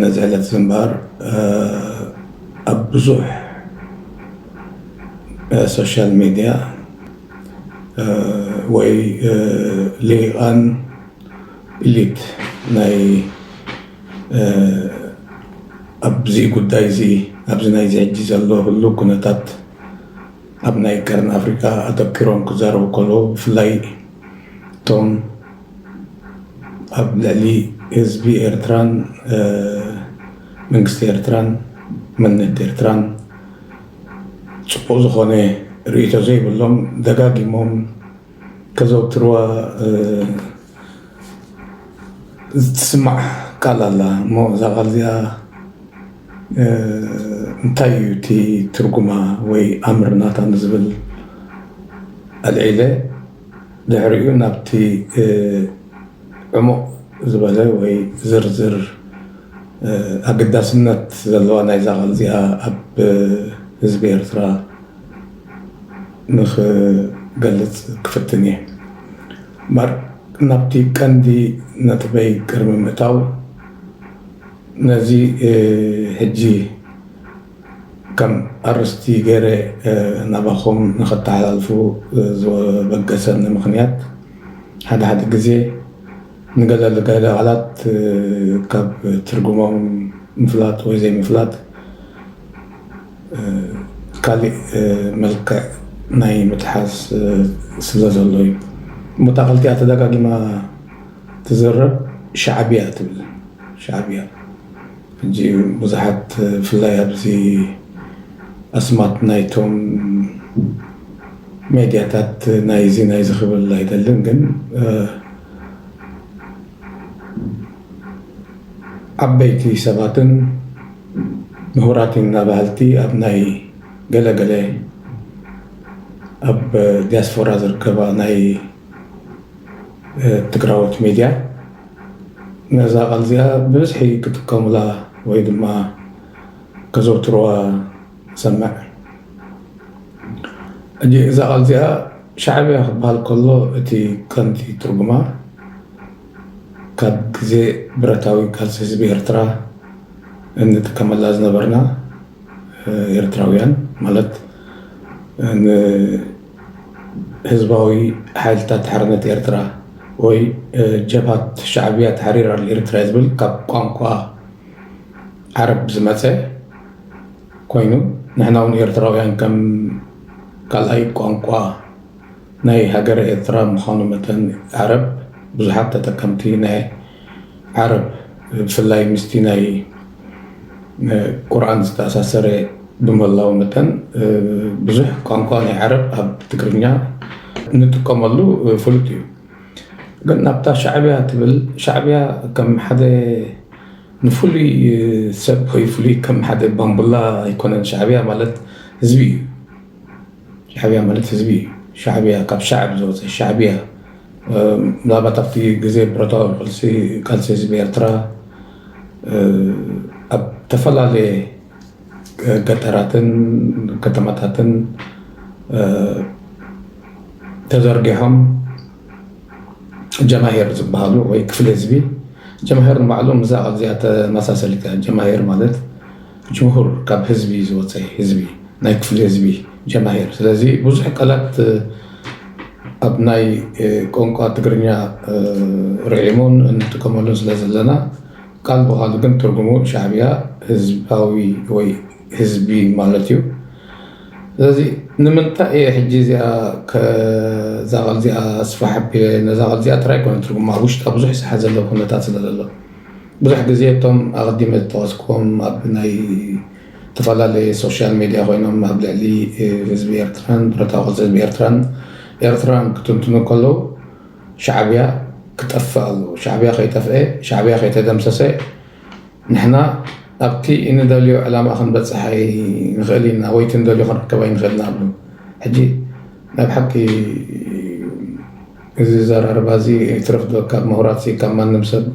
ነዚ ዕለትዚ እምበኣር ኣብ ብዙሕ ሶሻል ሚድያ ወይ ሊሂቃን ኢሊት ናይ ኣብዚ ጉዳይዚ ኣብዚ ናይዚ ሕጂ ዘሎ ህሉው ኩነታት ኣብ ናይ ቀርኒ ኣፍሪቃ ኣተኪሮም ክዛረቡ ከለዉ ብፍላይ እቶም ኣብ ልዕሊ ህዝቢ ኤርትራን መንግስቲ ኤርትራን መንነት ኤርትራን ጽቡቕ ዝኾነ ርእይቶ ዘይብሎም ደጋጊሞም ከዘውትርዋ ዝትስማዕ ቃል ኣላ እሞ እዛ ቃል እዚኣ እንታይ እዩ እቲ ትርጉማ ወይ ኣምር ናታ ንዝብል ኣልዒለ ድሕሪኡ ናብቲ ዕሙቕ ዝበለ ወይ ዝርዝር ኣገዳስነት ዘለዋ ናይዛ ቃል እዚኣ ኣብ ህዝቢ ኤርትራ ንኽገልጽ ክፍትን እየ። እምበኣር ናብቲ ቀንዲ ነጥበይ ቅድሚ ምእታው ነዚ ሕጂ ከም ኣርእስቲ ገይረ ናባኹም ንኸተሓላልፉ ዘበገሰኒ ምኽንያት ሓደ ሓደ ግዜ ንገለ ገለ ቃላት ካብ ትርጉሞም ምፍላጥ ወይ ዘይምፍላጥ ካሊእ መልክዕ ናይ ምጥሓስ ስለ ዘሎ እዩ። እሞ እታ ክልቲኣ ተደጋጊማ ትዝረብ ሻዕቢያ ትብል ሻዕቢያ። ሕጂ ብዙሓት ብፍላይ ኣብዚ ኣስማት ናይቶም ሜድያታት ናይዚ ናይዚ ክብል ኣይደልን ግን ዓበይቲ ሰባትን ምሁራት ኢና በሃልቲ ኣብ ናይ ገለ ገለ ኣብ ዲያስፎራ ዝርከባ ናይ ትግራዎት ሚድያ ነዛ ቃል እዚኣ ብብዝሒ ክጥቀሙላ ወይ ድማ ከዘውትሩዋ ንሰምዕ። ሕጂ እዛ ቃል እዚኣ ሻዕብያ ክበሃል ከሎ እቲ ቀንዲ ትርጉማ ካብ ግዜ ብረታዊ ቃልሲ ህዝቢ ኤርትራ እንጥቀመላ ዝነበርና ኤርትራውያን ማለት ን ህዝባዊ ሓይልታት ሓርነት ኤርትራ ወይ ጀብሃት ሻዕብያ ተሕሪር ኣል ኤርትራ ዝብል ካብ ቋንቋ ዓረብ ዝመጸ ኮይኑ ንሕና እውን ኤርትራውያን ከም ካልኣይ ቋንቋ ናይ ሃገረ ኤርትራ ምዃኑ መጠን ዓረብ ብዙሓት ተጠቀምቲ ናይ ዓረብ ብፍላይ ምስቲ ናይ ንቁርኣን ዝተኣሳሰረ ብምህላዉ መጠን ብዙሕ ቋንቋ ናይ ዓረብ ኣብ ትግርኛ እንጥቀመሉ ፍሉጥ እዩ። ግን ናብታ ሻዕብያ ትብል ሻዕብያ ከም ሓደ ንፍሉይ ሰብ ወይ ፍሉይ ከም ሓደ ባምቡላ ኣይኮነን ሻዕብያ ማለት ህዝቢ እዩ። ሻዕብያ ማለት ህዝቢ እዩ። ሻዕብያ ካብ ሻዕብ ዝወፀ ሻዕብያ ምናልባት ኣብቲ ግዜ ብረታዊ ቃልሲ ህዝቢ ኤርትራ ኣብ ዝተፈላለየ ገጠራትን ከተማታትን ተዘርጊሖም ጀማሂር ዝበሃሉ ወይ ክፍሊ ህዝቢ ጀማሂር ንባዕሎም እዛ ኣብዚኣ ተመሳሰሊት እያ ጀማሂር ማለት ጅምሁር ካብ ህዝቢ ዝወፀ ህዝቢ ናይ ክፍሊ ህዝቢ ጀማሂር ስለዚ ብዙሕ ቃላት ኣብ ናይ ቋንቋ ትግርኛ ርዒሙን እንጥቀመሉን ስለ ዘለና ቃል ብቃሉ ግን ትርጉሙ ሻዕቢያ ህዝባዊ ወይ ህዝቢ ማለት እዩ ስለዚ ንምንታይ እየ ሕጂ እዚኣ ከዛ ቃል እዚኣ ኣስፋሕ ኣቢለ ነዛ ቃል እዚኣ ጥራይ ኮነ ትርጉማ ኣብ ውሽጣ ብዙሕ ዝሓዘለ ኩነታት ስለ ዘሎ ብዙሕ ግዜ እቶም ኣቐዲመ ዝጠቐስክዎም ኣብ ናይ እተፈላለየ ሶሻል ሜድያ ኮይኖም ኣብ ልዕሊ ህዝቢ ኤርትራን ብረታዊ ቃልሲ ህዝቢ ኤርትራን ኤርትራን ክትንትኑ ከለዉ ሻዕብያ ክጠፍእ ኣለዎ ሻዕብያ ከይጠፍኤ ሻዕብያ ከይተደምሰሰ ንሕና ኣብቲ እንደልዮ ዕላማ ክንበጽሕ ኣይንኽእል ኢና ወይ እቲ እንደልዮ ክንርከብ ኣይንኽእል ኢና ዝብሉ ሕጂ ናይ ብሓቂ እዚ ኣዘራርባ እዚ ይትረፍ ዶ ካብ ምሁራትሲ ካብ ማንም ሰብ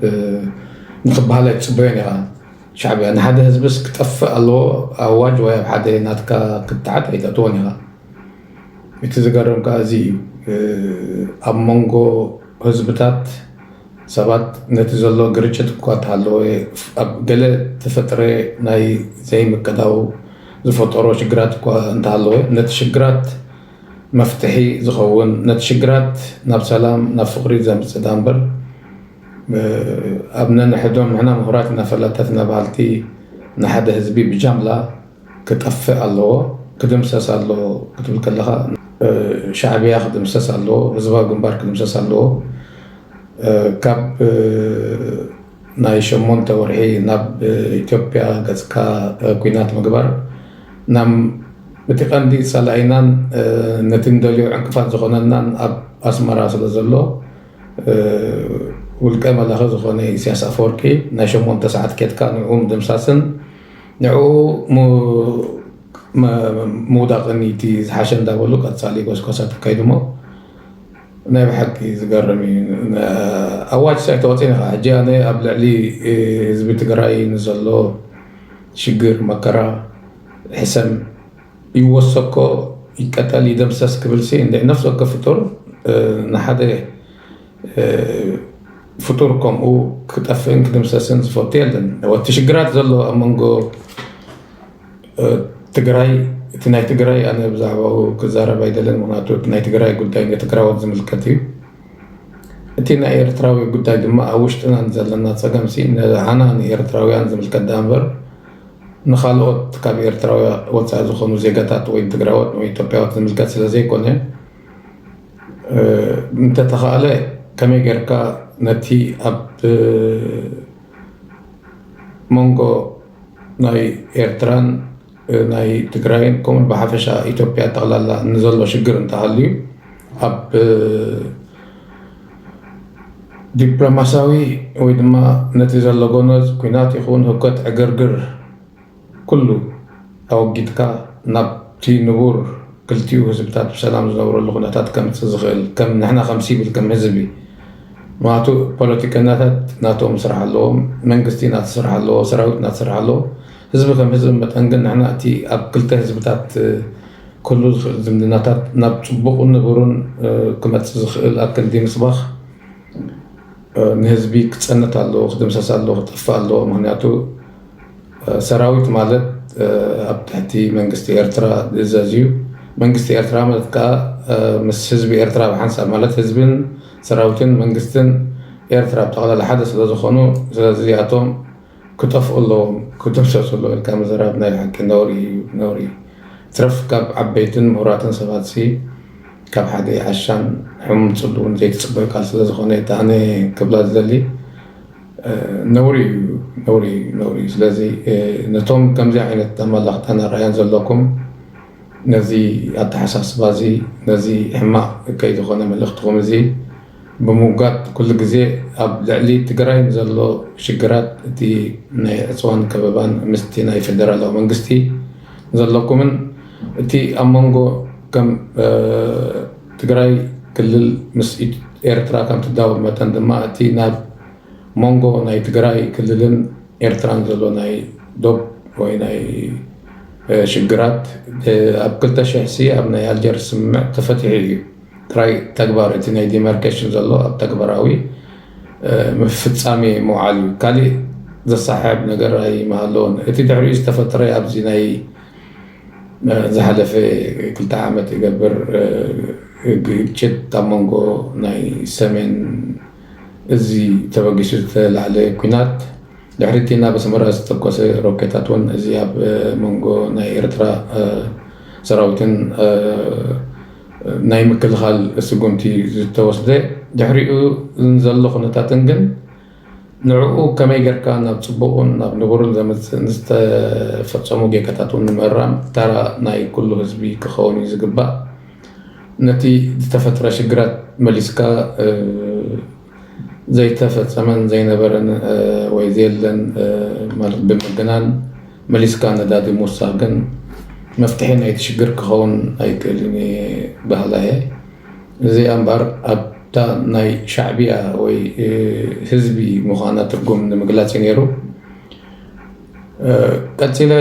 ንኽበሃል ኣይትጽበዮን ኢኻ። ሻዕብያ ንሓደ ህዝብስ ክጠፍእ ኣለዎ ኣዋጅ ወይ ኣብ ሓደ ናትካ ክትዓት ኣይተእትዎን ኢኻ። እቲ ዝገርም ከኣ እዚ እዩ። ኣብ መንጎ ህዝብታት ሰባት ነቲ ዘሎ ግርጭት እኳ እንተሃለወ ኣብ ገለ ተፈጥረ ናይ ዘይምቅዳው ዝፈጠሮ ሽግራት እኳ እንተሃለወ ነቲ ሽግራት መፍትሒ ዝኸውን ነቲ ሽግራት ናብ ሰላም ናብ ፍቅሪ ዘምጽእ ዳምበር ኣብ ነንሕዶም ንሕና ምሁራት ኢና ፈላጣትና በሃልቲ ንሓደ ህዝቢ ብጃምላ ክጠፍእ ኣለዎ ክድምሰስ ኣለዎ ክትብል ከለኻ ሻዕብያ ክድምሰስ ኣለዎ ህዝባዊ ግንባር ክድምሰስ ኣለዎ ካብ ናይ ሸሞንተ ወርሒ ናብ ኢትዮጵያ ገጽካ ኩናት ምግባር ናም እቲ ቀንዲ ጸላኢናን ነቲ ንደልዮ ዕንቅፋት ዝኾነናን ኣብ ኣስመራ ስለዘሎ ውልቀ መላኺ ዝኾነ ኢስያስ ኣፈወርቂ ናይ ሸሞንተ ሰዓት ኬድካ ንዕኡ ምድምሳስን ንዕኡ ምውዳቕን ኢቲ ዝሓሸ እንዳበሉ ቀጻሊ ጎስጓሳት ኣካይዱሞ ናይ ብሓቂ ዝገርም እዩ ኣዋጅ ሳይ ተወፂ ነኻ ሕጂ ኣነ ኣብ ልዕሊ ህዝቢ ትግራይ ንዘሎ ሽግር መከራ ሕሰም ይወሰኮ ይቀጠል ይደምሰስ ክብልሲ እንደ ነፍሲ ወከፍ ፍጡር ንሓደ ፍጡር ከምኡ ክጠፍእን ክድምሰስን ዝፈቱ የለን እቲ ሽግራት ዘሎ ኣብ መንጎ ትግራይ እቲ ናይ ትግራይ ኣነ ብዛዕባኡ ክዛረብ ኣይደልን ምክንያቱ እቲ ናይ ትግራይ ጉዳይ ንትግራዎት ዝምልከት እዩ እቲ ናይ ኤርትራዊ ጉዳይ ድማ ኣብ ውሽጥና ዘለና ፀገም ሲ ንዓና ንኤርትራውያን ዝምልከት ዳኣ እምበር ንካልኦት ካብ ኤርትራዊ ወፃኢ ዝኾኑ ዜጋታት ወይ ትግራዎት ወይ ኢትዮጵያዎት ዝምልከት ስለ ዘይኮነ እንተተኻእለ ከመይ ጌርካ ነቲ ኣብ መንጎ ናይ ኤርትራን ናይ ትግራይን ከምኡ ብሓፈሻ ኢትዮጵያ ጠቕላላ ንዘሎ ሽግር እንተሃልዩ ኣብ ዲፕሎማሲያዊ ወይ ድማ ነቲ ዘሎ ጎነዝ ኩናት ይኹን ህውከት ዕግርግር ኩሉ ኣወጊድካ ናብቲ ንቡር ክልቲኡ ህዝብታት ብሰላም ዝነብረሉ ኩነታት ከምፅእ ዝኽእል ከም ንሕና ከም ሲቪል ከም ህዝቢ ምክንያቱ ፖለቲከኛታት ናቶም ስራሕ ኣለዎም፣ መንግስቲ ናቱ ስራሕ ኣለዎ፣ ሰራዊት ናቱ ስራሕ ኣለዎ። ህዝቢ ከም ህዝቢ መጠን ግን ንሕና እቲ ኣብ ክልተ ህዝብታት ክህሉ ዝኽእል ዝምድናታት ናብ ፅቡቕን ንቡርን ክመፅእ ዝኽእል ኣክንዲ ምስባኽ ንህዝቢ ክፀንት ኣለዎ፣ ክድምሰስ ኣለዎ፣ ክጠፍእ ኣለዎ። ምክንያቱ ሰራዊት ማለት ኣብ ትሕቲ መንግስቲ ኤርትራ ዝእዘዝ እዩ። መንግስቲ ኤርትራ ማለት ከኣ ምስ ህዝቢ ኤርትራ ብሓንሳብ ማለት ህዝብን ሰራዊትን መንግስትን ኤርትራ ብጠቕላላ ሓደ ስለዝኾኑ ስለዚ እዚኣቶም ክጠፍኡ ኣለዎም ክድምሰሱ ኣለዎም ኢልካ ምዝራብ ናይ ብሓቂ ነውሪ እዩ ነውሪ ይትረፍ ካብ ዓበይትን ምሁራትን ሰባትሲ ካብ ሓደ ዓሻን ሕሙም ጽልውን ዘይትጽበ ቃል ስለዝኾነ እታ ኣነ ክብላ ዝደሊ ነውሪ እዩ ነውሪ እዩ ነውሪ እዩ ስለዚ ነቶም ከምዚ ዓይነት ኣመላኽታን ኣረኣያን ዘለኩም ነዚ ኣተሓሳስባ እዚ ነዚ ሕማቕ እከይ ዝኾነ መልእኽትኹም እዚ ብምውጋድ ኩሉ ግዜ ኣብ ልዕሊ ትግራይ ንዘሎ ሽግራት እቲ ናይ ዕፅዋን ከበባን ምስቲ ናይ ፌደራላዊ መንግስቲ ዘለኩምን እቲ ኣብ መንጎ ከም ትግራይ ክልል ምስ ኤርትራ ከም ትዳወብ መጠን ድማ እቲ ናብ ሞንጎ ናይ ትግራይ ክልልን ኤርትራን ዘሎ ናይ ዶብ ወይ ናይ ሽግራት ኣብ 2000 ሲ ኣብ ናይ ኣልጀር ስምምዕ ተፈቲሑ እዩ ጥራይ ተግባር እቲ ናይ ዲማርኬሽን ዘሎ ኣብ ተግባራዊ ምፍፃሜ ምውዓል እዩ ካሊእ ዘሰሓሕብ ነገር ኣይመሃለዎን እቲ ድሕሪኡ ዝተፈጠረ ኣብዚ ናይ ዝሓለፈ ክልተ ዓመት ይገብር ግጭት ኣብ መንጎ ናይ ሰሜን እዚ ተበጊሱ ዝተላዕለ ኲናት ድሕሪ እቲ ናብ ኣስመራ ዝተተኮሰ ሮኬታት እውን እዚ ኣብ መንጎ ናይ ኤርትራ ሰራዊትን ናይ ምክልኻል ስጉምቲ ዝተወስደ ድሕሪኡ ዘሎ ኩነታትን ግን ንዕኡ ከመይ ጌርካ ናብ ጽቡቕን ናብ ንቡርን ዘምጽእን ዝተፈጸሙ ጌጋታት'ውን ንምእራም ታራ ናይ ኩሉ ህዝቢ ክኸውን እዩ ዝግባእ። ነቲ ዝተፈጥረ ሽግራት መሊስካ ዘይተፈጸመን ዘይነበረን ወይ ዘየለን ማለት ብምግናን መሊስካ ነዳዲ ምውሳኽ ግን መፍትሒ ናይቲ ሽግር ክኸውን ኣይክእልን እየ በሃላይ እየ። እዚኣ እምበኣር ኣብታ ናይ ሻዕብያ ወይ ህዝቢ ምዃና ትርጉም ንምግላጽ እዩ ነይሩ። ቀጺለ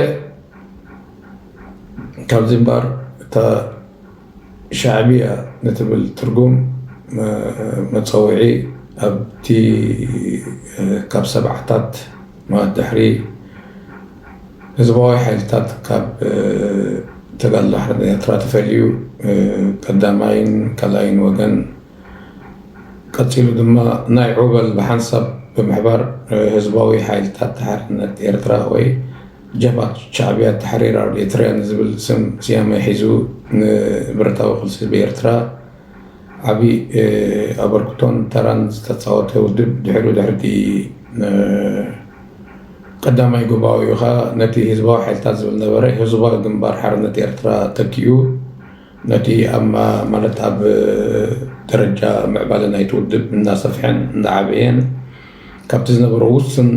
ካብዚ እምበኣር እታ ሻዕብያ ንትብል ትርጉም መጸውዒ ኣብቲ ካብ ሰብዓታት ማለት ድሕሪ ህዝባዊ ሓይልታት ካብ ተጋድሎ ሓርነት ኤርትራ ተፈልዩ ቀዳማይን ካልኣይን ወገን ቀጺሉ ድማ ናይ ዑበል ብሓንሳብ ብምሕባር ህዝባዊ ሓይልታት ሓርነት ኤርትራ ወይ ጀብሃት ሻዕብያ ታሕሪር ኣብ ኤርትራ ንዝብል ስም ስያመ ሒዙ ንብረታዊ ቕልሲ ህዝቢ ኤርትራ ዓቢ ኣበርክቶን ተራን ዝተጻወተ ውድብ ድሕሪኡ ድሕሪቲ ቀዳማይ ጉባኤኡ ከኣ ነቲ ህዝባዊ ሓይልታት ዝብል ነበረ ህዝባዊ ግንባር ሓርነት ኤርትራ ተኪኡ ነቲ ኣብ ማለት ኣብ ደረጃ ምዕባለ ናይቲ ውድብ እናሰፍሐን እናዓበየን ካብቲ ዝነበሮ ውስን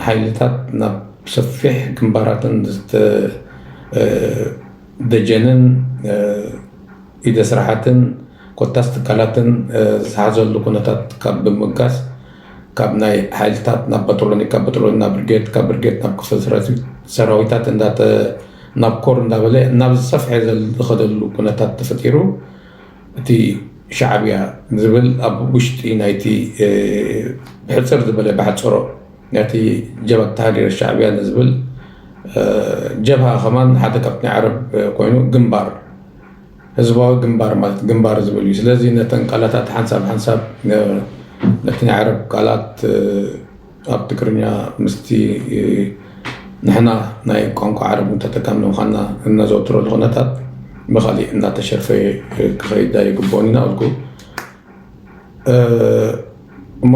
ሓይልታት ናብ ሰፊሕ ግንባራትን ደጀንን ኢደ ስራሓትን ኮታስ ትካላትን ዝሓዘሉ ኩነታት ካብ ብምብጋስ ካብ ናይ ሓይልታት ናብ በጠሎኒ ካብ በጠሎኒ ናብ ብርጌድ ካብ ብርጌድ ናብ ክፍለ ሰራዊት ሰራዊታት እንዳተ ናብ ኮር እንዳበለ ናብ ዝሰፍሐ ዝኸደሉ ኩነታት ተፈጢሩ እቲ ሻዕብያ ዝብል ኣብ ውሽጢ ናይቲ ብሕፅር ዝበለ ብሓፀሮ ናይቲ ጀብሃት ተሃዲረ ሻዕብያ ንዝብል ጀብሃ ከማን ሓደ ካብቲ ናይ ዓረብ ኮይኑ ግንባር ህዝባዊ ግንባር ማለት ግንባር ዝብል እዩ። ስለዚ ነተን ቃላታት ሓንሳብ ሓንሳብ ነቲ ናይ ዓረብ ቃላት ኣብ ትግርኛ ምስቲ ንሕና ናይ ቋንቋ ዓረብ ተጠቃሚ ምዃንና እነዘውትረሉ ኩነታት ብኻሊእ እናተሸፈየ ክኸይድ ኣይግብኦን ኢና በልኩ እሞ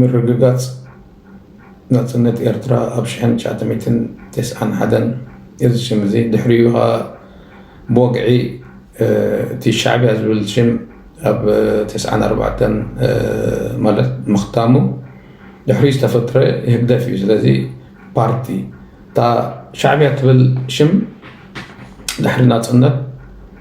ምርግጋጽ ናጽነት ኤርትራ ኣብ ሽሕን ትሽዓተሚእትን ተስዓን ሓደን እዚ ሽም እዚ ድሕሪኡ ከኣ ብወግዒ እቲ ሻዕብያ ዝብል ሽም ኣብ ተስዓን ኣርባዕተን ማለት ምኽታሙ ድሕሪኡ ዝተፈጥረ ህግደፍ እዩ ስለዚ ፓርቲ እታ ሻዕብያ ትብል ሽም ድሕሪ ናጽነት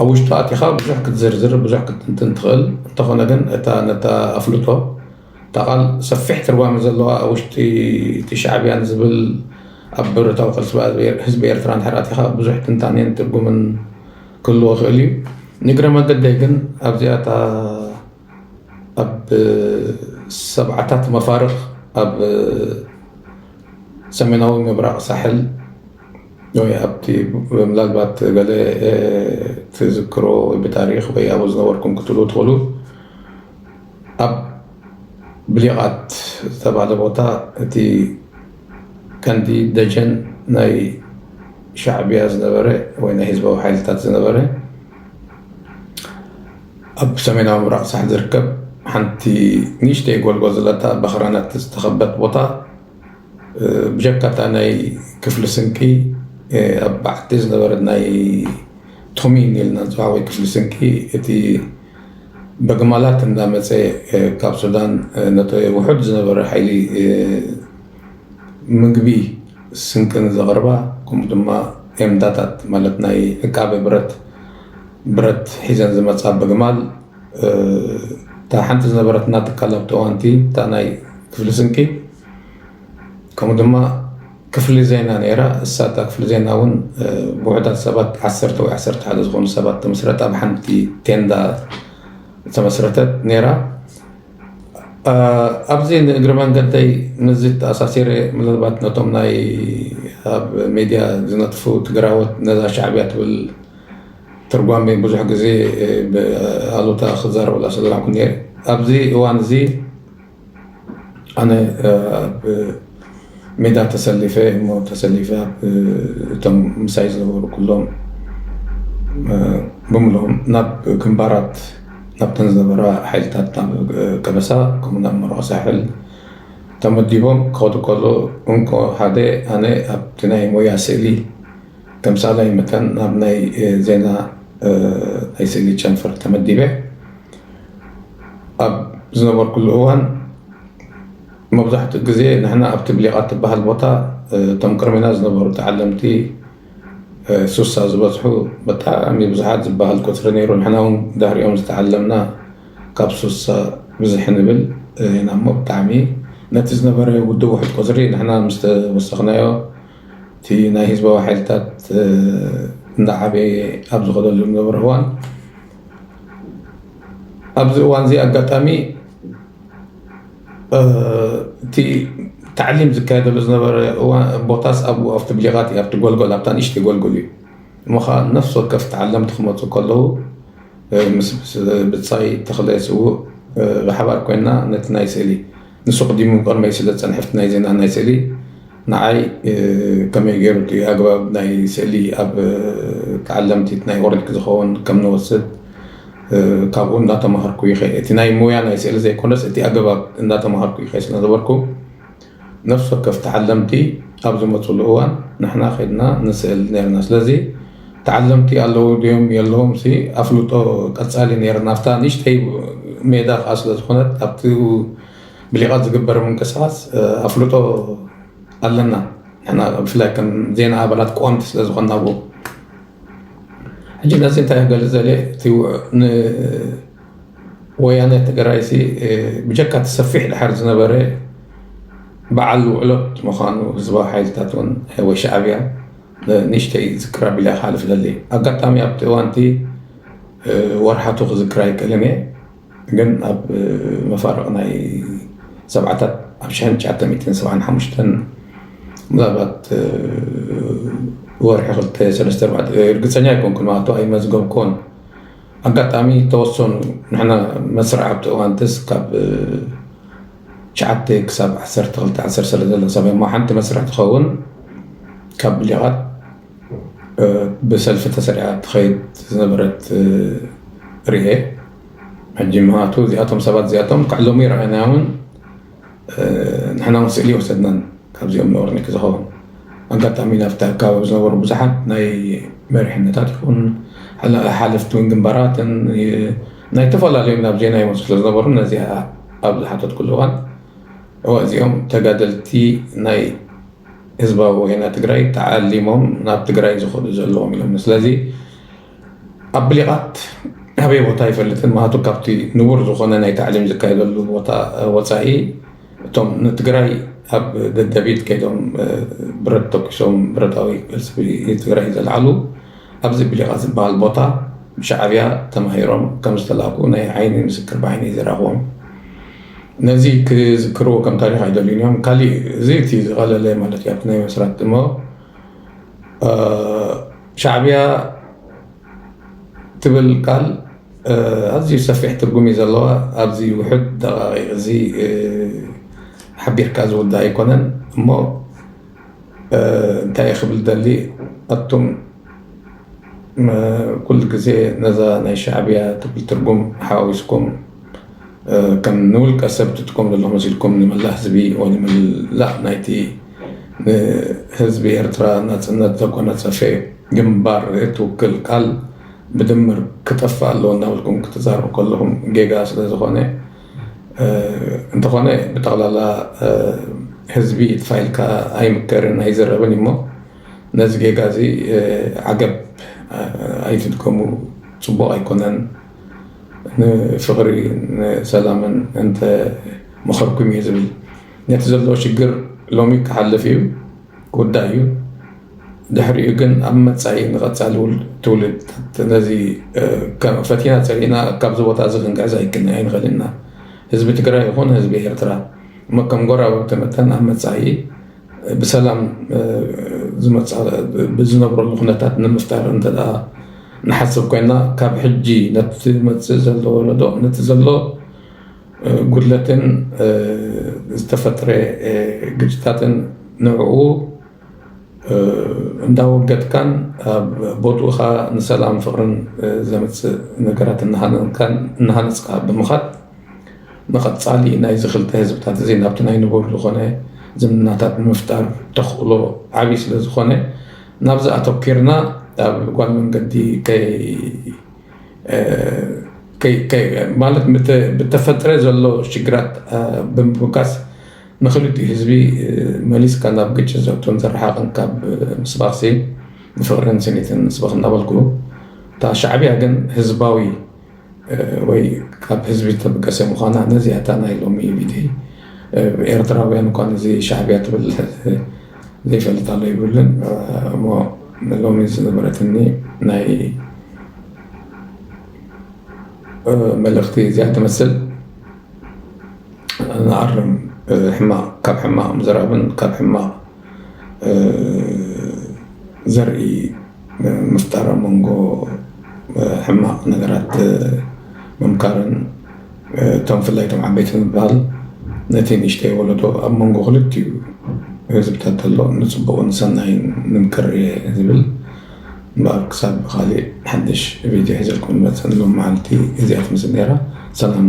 ኣብ ውሽጡ ኣቲኻ ብዙሕ ክትዝርዝር ብዙሕ ክትንትን ትኽእል እንተኾነ ግን እታ ነታ ኣፍልጦ እታ ቃል ሰፊሕ ትርጓሜ ዘለዋ ኣብ ውሽጢ እቲ ሻዕብያን ዝብል ኣብ ብረታዊ ቃልሲ ህዝቢ ኤርትራ እንድሕር ኣቲኻ ብዙሕ ትንታኔን ትርጉምን ክህልዎ ይኽእል እዩ ንእግረ መገደይ ግን ኣብዚኣ እታ ኣብ ሰብዓታት መፋርኽ ኣብ ሰሜናዊ ምብራቕ ሳሕል ወይ ኣብቲ ምናልባት ገለ ትዝክሮ ወይ ብታሪኽ ወይ ኣብኡ ዝነበርኩም ክትብሉ ትኽእሉ ኣብ ብሊቓት ዝተባህለ ቦታ እቲ ቀንዲ ደጀን ናይ ሻዕቢያ ዝነበረ ወይ ናይ ህዝባዊ ሓይልታት ዝነበረ ኣብ ሰሜናዊ ምብራቕ ሳሕል ዝርከብ ሓንቲ ንእሽተይ ጎልጎል ዘለታ ብኣኽራናት ዝተኸበት ቦታ ብጀካ እታ ናይ ክፍሊ ስንቂ ኣብ ባሕቲ ዝነበረት ናይ ቶሚን ኢልና ንፅውዓ ወይ ክፍሊ ስንቂ እቲ በግማላት እንዳመፀ ካብ ሱዳን ነቲ ውሑድ ዝነበረ ሓይሊ ምግቢ ስንቅን ዘቕርባ ከምኡ ድማ ቴንዳታት ማለት ናይ ዕቃበ ብረት ብረት ሒዘን ዝመፃ በግማል እታ ሓንቲ ዝነበረትና ትካል ኣብቲ እዋንቲ እታ ናይ ክፍሊ ስንቂ ከምኡ ድማ ክፍሊ ዜና ነይራ እሳ እታ ክፍሊ ዜና እውን ብውሑዳት ሰባት ዓሰርተ ወይ ዓሰርተ ሓደ ዝኾኑ ሰባት ተመስረታ ኣብ ሓንቲ ቴንዳ ተመስረተት ነይራ ኣብዚ ንእግሪ መንገደይ ምዚ ተኣሳሲረ ምናልባት ነቶም ናይ ኣብ ሚድያ ዝነጥፉ ትግራዎት ነዛ ሻዕብያ ትብል ትርጓሜ ብዙሕ ግዜ ብኣሉታ ክዛረበላ ሰለላኩ ነይረ ኣብዚ እዋን እዚ ኣነ ኣብ ሜዳ ተሰሊፈ እሞ ተሰሊፈ እቶም ምሳይ ዝነበሩ ኩሎም ብምሎም ናብ ግንባራት ናብተን ዝነበራ ሓይልታት ቀበሳ ከምኡ ናብ መርዖ ሳሕል ተመዲቦም ክኸዱ ከሎ እንኮ ሓደ ኣነ ኣብቲ ናይ ሞያ ስእሊ ተምሳላይ መጠን ናብ ናይ ዜና ናይ ስእሊ ጨንፈር ተመዲበ ኣብ ዝነበርኩሉ እዋን መብዛሕትኡ ግዜ ንሕና ኣብቲ ብሊቓ ትበሃል ቦታ እቶም ቅድሜና ዝነበሩ ተዓለምቲ ሱሳ ዝበዝሑ ብጣዕሚ ብዙሓት ዝበሃል ቁፅሪ ነይሩ ንሕና እውን ድሕሪኦም ዝተዓለምና ካብ ሱሳ ብዝሕ ንብል ኢና እሞ ብጣዕሚ ነቲ ዝነበረ ውድብ ውሕድ ቁፅሪ ንሕና ምስ ተወሰኽናዮ እቲ ናይ ህዝባዊ ሓይልታት እንዳዓበየ ኣብ ዝኸደሉ ዝነበረ እዋን ኣብዚ እዋን እዚ ኣጋጣሚ እቲ ታዕሊም ዝካየደሉ ዝነበረ ቦታስ ኣብኡ ኣብቲ ብሊቓት እዩ ኣብቲ ጎልጎል ኣብታ ንእሽተይ ጎልጎል እዩ እሞ ከዓ ነፍሲ ወከፍ ተዓለምቲ ክመፁ ከለዉ ምስ ብፃይ ተኽለ ስውእ ብሓባር ኮይና ነቲ ናይ ስእሊ ንሱ ኣቕዲሙ ቅድመይ ስለ ዝጸንሐ ናይ ዜናን ናይ ስእሊ ንዓይ ከመይ ገይሩ እቲ ኣግባብ ናይ ስእሊ ኣብ ተዓለምቲ ናይ ኦሬልክ ዝኸውን ከም ንወስድ ካብኡ እናተማሃርኩ ይኸ እቲ ናይ ሙያ ናይ ስእሊ ዘይኮነስ እቲ ኣገባብ እናተማሃርኩ ይኸ ስለ ነበርኩ ነፍሲ ወከፍ ተዓለምቲ ኣብ ዝመፅሉ እዋን ንሕና ከድና ንስእል ነርና ስለዚ ተዓለምቲ ኣለዉ ድዮም የለዉምሲ ኣፍልጦ ቀጻሊ ነይረን። ኣብታ ንእሽተይ ሜዳ ከኣ ስለ ዝኾነት ኣብቲ ብሊቓት ዝግበር ምንቅስቓስ ኣፍልጦ ኣለና። ንሕና ብፍላይ ከም ዜና ኣባላት ቀወምቲ ስለ ዝኾንና ኣብኡ ሕጂ ነዚ እንታይ ክገልፅ ዘለ እቲ ንወያነ ትግራይሲ ብጀካ እቲ ሰፊሕ ድሓር ዝነበረ በዓል ውዕሎት ምዃኑ ህዝባዊ ሓይልታት እውን ወይ ሻዕብያ ንእሽተይ ዝክር ኣቢለ ክሓልፍ እደሊ ኣጋጣሚ ኣብቲ እዋንቲ ወርሓቱ ክዝክር ኣይክእልን እየ ግን ኣብ መፋርቕ ናይ ሰብዓታት ኣብ ሽሕን ትሽዓተ ሚእትን ሰብዓን ሓሙሽተን ምናልባት ወርሒ ክልተ ሰለስተ ኣርባዕተ እርግፀኛ ኣይኮንኩን ማለቱ ኣይመዝገብኩዎን ኣጋጣሚ ተወሰኑ ንሕና መስርዕ ኣብቲ እዋንትስ ካብ ትሽዓተ ክሳብ ዓሰርተ ክልተ ዓሰርተ ሰለ ዘሎ ሰማይ እሞ ሓንቲ መስርሕ ትኸውን ካብ ብሊቓት ብሰልፊ ተሰሪዓ ትኸይድ ዝነበረት ርኤ ሕጂ ምክንያቱ እዚኣቶም ሰባት እዚኣቶም ክዕለሙ ይረኣናዮምን ንሕና እውን ስእሊ ወሰድናን ካብዚኦም ነወርኒ ክዝኸውን ኣጋጣሚ ናብቲ ኣካባቢ ዝነበሩ ብዙሓት ናይ መሪሕነታት ይኹን ሓለፍቲ ውን ግንባራትን ናይ ተፈላለዩ ናብ ዜና ይመጹ ስለ ዝነበሩ ነዚ ኣብ ዝሓተትኩሉ እዋን እወ እዚኦም ተጋደልቲ ናይ ህዝባዊ ወያነ ትግራይ ተዓሊሞም ናብ ትግራይ ዝኸዱ ዘለዎም እዮም ስለዚ ኣብ ብሊቓት ኣበይ ቦታ ኣይፈልጥን ማቱ ካብቲ ንቡር ዝኾነ ናይ ታዕሊም ዝካየደሉ ቦታ ወፃኢ እቶም ንትግራይ ኣብ ደደቢት ከይዶም ብረት ተኪሶም ብረታዊ ቅልሲ ትግራይ ዘልዓሉ ኣብዚ ብሊቃ ዝበሃል ቦታ ብሻዕብያ ተማሂሮም ከም ዝተላእኩ ናይ ዓይኒ ምስክር ብዓይነይ ዝረኣኹዎም ነዚ ክዝክርዎ ከም ታሪኽ ኣይደልዩን እዮም ካሊእ እዚ እቲ ዝቐለለ ማለት እዩ ኣብቲ ናይ መስራት እሞ ሻዕብያ ትብል ቃል ኣዝዩ ሰፊሕ ትርጉም እዩ ዘለዋ ኣብዚ ውሕድ ደቃቂቅ እዚ ሓቢርካ ዝውዳእ ኣይኮነን እሞ እንታይ ክብል ደሊ ኣቱም ኩሉ ግዜ ነዛ ናይ ሻዕብያ ትብል ትርጉም ሓዋዊስኩም ከም ንውልቀ ሰብ ትጥቀሙ ዘለኹም መሲልኩም ንመላእ ህዝቢ ወይ ንመላእ ናይቲ ንህዝቢ ኤርትራ ናጽነት ዘጎናጸፈ ግንባር እትውክል ቃል ብድምር ክጠፍእ ኣለዎ እናበልኩም ክትዛረቡ ከለኹም ጌጋ ስለዝኾነ እንተኾነ ብጠቕላላ ህዝቢ ትፋይልካ ኣይምከርን ኣይዝረብን እዩሞ ነዚ ጌጋ እዚ ዓገብ ኣይትድገሙ ፅቡቕ ኣይኮነን ንፍቕሪ ንሰላምን እንተ መኸርኩም እየ ዝብል ነቲ ዘሎ ሽግር ሎሚ ክሓልፍ እዩ። ጉዳይ እዩ። ድሕሪኡ ግን ኣብ መፃኢ ንቐፃሊ ትውልድታት ነዚ ፈቲና ፀሊእና ካብዚ ቦታ እዚ ክንግዕዝ ኣይክን ኣይንኽእልን ኢና። ህዝቢ ትግራይ ይኹን ህዝቢ ኤርትራ እሞ ከም ጎረባብቲ መጠን ኣብ መፃኢ ብሰላም ዝነብረሉ ኩነታት ንምፍጣር እንተ ንሓስብ ኮይና ካብ ሕጂ ነቲ ዝመፅእ ዘሎ ወለዶ ነቲ ዘሎ ጉድለትን ዝተፈጥረ ግጭታትን ንዕኡ እንዳወገድካን ኣብ ቦትኡ ከዓ ንሰላም ፍቅርን ዘምፅእ ነገራት እናሃነፅካ ብምኻድ ንቀፃሊ ናይዚ ክልተ ህዝብታት እዚ ናብቲ ናይ ንቡር ዝኾነ ዝምድናታት ንምፍጣር ተኽእሎ ዓብዪ ስለዝኾነ ናብዚ ኣተኲርና ኣብ ጓል መንገዲ ከይ ማለት ብተፈጥረ ዘሎ ሽግራት ብምብጋስ ንክልቲኡ ህዝቢ መሊስካ ናብ ግጭት ዘእቱን ዘረሓቕን ካብ ምስባኽሲ ንፍቕርን ስኒትን ንስበኽ እናበልኩ እታ ሻዕቢያ ግን ህዝባዊ ወይ ካብ ህዝቢ ዝተበገሰ ምዃና ነዚኣ እታ ናይ ሎሚ ቪድዮይ ኤርትራውያን እኳ ነዚ ሻዕቢያ ትብል ዘይፈልጥ ኣሎ ይብልን እሞ ሎሚ ዝነበረትኒ ናይ መልእኽቲ እዚኣ ትመስል ንኣርም ሕማቕ ካብ ሕማቕ ምዝራብን ካብ ሕማቕ ዘርኢ ምፍጣር ኣብ መንጎ ሕማቅ ነገራት ምምካርን እቶም ብፍላይ እቶም ዓበይቲ ምብሃል ነቲ ንእሽተይ ወለዶ ኣብ መንጎ ክልቲኡ ህዝብታት ዘሎ ንፅቡቅን ንሰናይን ንምክር እየ ዝብል እምበኣር ክሳብ ብካሊእ ሓዱሽ ቪድዮ ሒዘልኩም ዝመፅእ ንሎሚ መዓልቲ እዚኣ ትመስል ነይራ ሰላም።